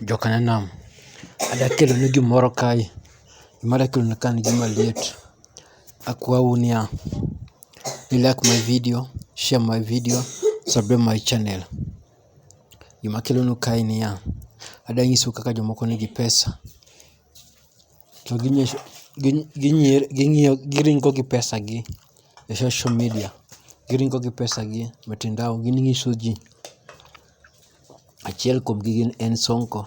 Jokanyanam, adwa kelonu gimoro kae, gima adwa kelonu kae en gima liet. Akwou niya, ni like my video, share my video, subscribe my channel. Gima akelonu kae en niya, adwa nyisou kaka jomoko nigi pesa to giringo gi pesa gi e social media, giringo gi pesa gi e mitandao ginyiso ji. Achiel kuom gi gin en Sonko,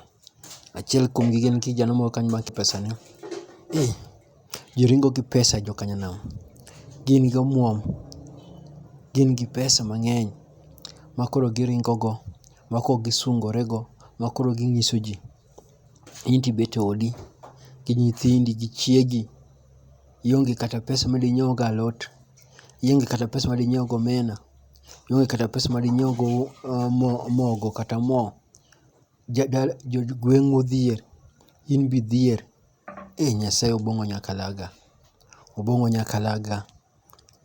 achiel kuom gi gin kijana moro kanyo ma pesa ne. Eeh, ji ringo gi pesa jo kanyanam. Gin gi omuom, gin gi pesa mang'eny ma koro giringo go, ma koro gisungore go, ma koro ginyiso ji. In to ibet e odi gi nyithindi gi chiegi, ionge kata pesa ma dinyiew go alot, ionge kata pesa ma dinyiew go omena. ionge kata pesa ma dinyiew go mogo kata mo, jo gweng'u odhier, in be idhier. Ei Nyasaye Obong'o nyakalaga, Obong'o nyakalaga.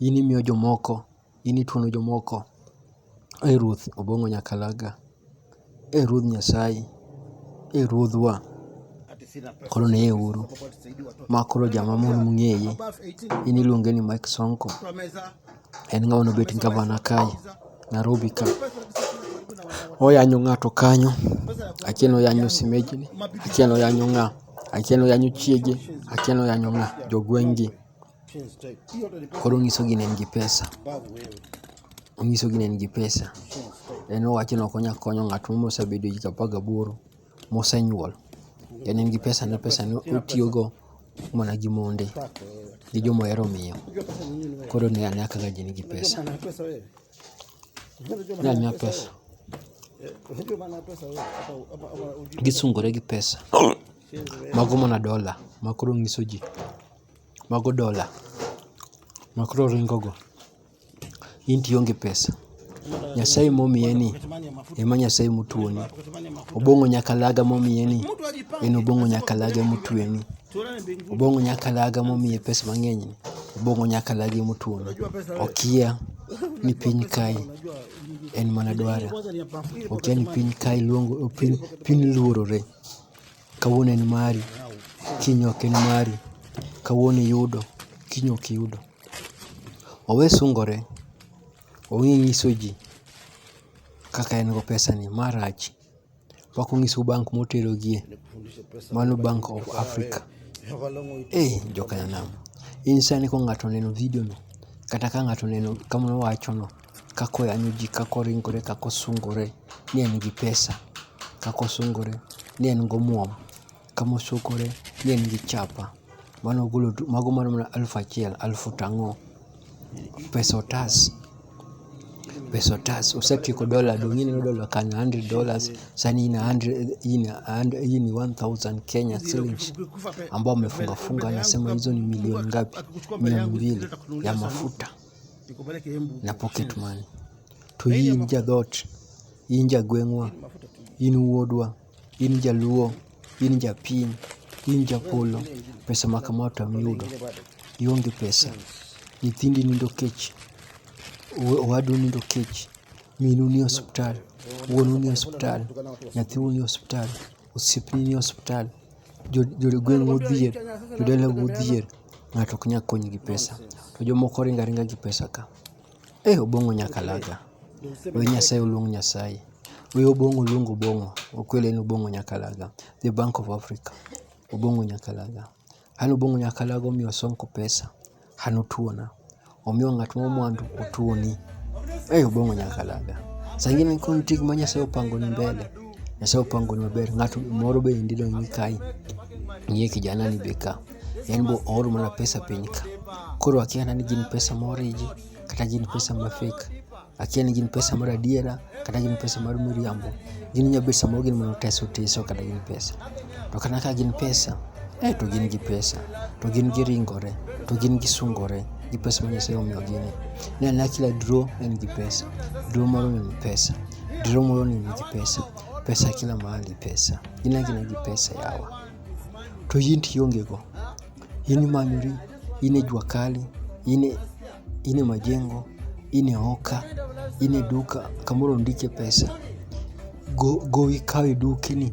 In imiyo jomoko, in ituono jomoko. Ei Ruoth Obong'o nyakalaga. E Ruodh Nyasaye, e Ruodhwa, koro neye uru. Ma koro jama mon mung'eye, en iluonge ni Mike Sonko. En ng'ama nobet gavana kae Narobi ka. Oyanyo ng'ato kanyo, akia ni oyanyo semeji ni, akia ni oyanyo ng'a, akia ni oyanyo chiege, akia ni oyanyo ng'a, jogweng' gi. Koro onyiso gini en gi pesa. Onyiso gini en gi pesa. En owacho ni ok onyal konyo ng'at moro mosebedo higni apar gaboro mosenyuol. En en gi pesa ne pesa ne otiyogo mana gi monde gi joma ohero miyo. Koro ne ane kaka ji nigi pesa. Ne ane pesa. Gisungore gi pesa. Mago mana dola ma koro nyiso ji. Mago dola makoro oringo go. Inti ionge pesa, Nyasaye momiye ni ema Nyasaye motuoni. Obong'o nyakalaga momiye ni en obong'o nyakalaga emotueni. Obong'o nyakalaga momiye pesa mang'eny ni obong'o nyakalaga emotuoni. Okia ni piny kae en mana dwara, okia ni piny kae luongo piny luorore. Kawuono en mari, kiny ok en mari. Kawuono iyudo, kiny ok iyudo. Owe sungore, ong'e nyiso ji kaka en go pesani. Ma rach, pok onyisou bank moterogie, mano bank of Africa. Ei jokanyanam, in sani ka ng'ato oneno video no, kata ka ng'ato oneno kama wawacho no. kaka oyanyo ji, kaka oringore, kaka osungore ni en gi pesa, kaka osungore ni en gi omuom, kaka osungore ni en gi chapa. Mano ogolo duto, mago mana mana alufu achiel, alufu tang'o. Pesa otas, pesa otas. Osetieko dola, donge ineno dola kanyo, a hundred dollars, sani in a hundred, in a hundred, hii ni one thousand Kenya shillings ambao wamefunga funga wanasema hizo ni milioni ngapi? Mia mbili ya mafuta. na pocket money. To in jadhot, in jagweng'wa, in wuodwa, in jaluo, in japiny, in japolo, pesa ma kama to amiyudo. Ionge pesa, nyithindi nindo kech, owadu nindo kech, minu ni osiptal, wuonu ni osiptal, nyathiu ni osiptal, osiepni nie osiptal, jogweng' modhier, jodala modhier ng'ato ok nyal kony gi pesa to jomoko ringo aringa gi pesa ka. Ee Obong'o nyakalaga, we Nyasaye oluong Nyasaye, we Obong'o oluong Obong'o, okwelo en Obong'o nyakalaga, the bank of Africa, Obong'o nyakalaga. An Obong'o nyakalaga omiyo Sonko pesa. an otuona. Omiyo ng'at ma mwandu otuoni. Ei Obong'o nyaka dala. Saa ingine koro nitie gima Nyasaye opangoni mbele. Nyasaye opangoni maber. Ng'at moro be endi dong' ni kae. Ng'iye kijana ni be ka. En be ooro mana pesa piny ka. Koro akiana ni gin pesa ma oriji kata gin pesa ma fake. akia ni gin pesa mar adiera kata gin pesa mar miriambo. Gin inya bet samoro gin mana oteso oteso kata gin pesa. To kata ka gin pesa, eh to gin gi pesa, to gin giringore, to gin gisungore gi pesa ma Nyasaye omiyogi ni. Ne ane kila draw en gi pesa, draw moro ni en pesa, draw moro ni nigi pesa, pesa kila mahali pesa. Gin agina gi pesa yawa. To in to ionge go, in imanyori, in e jua kali, in e. in e majengo, in e oka, in e duka kamoro ondikie pesa, gowi kaw e dukni.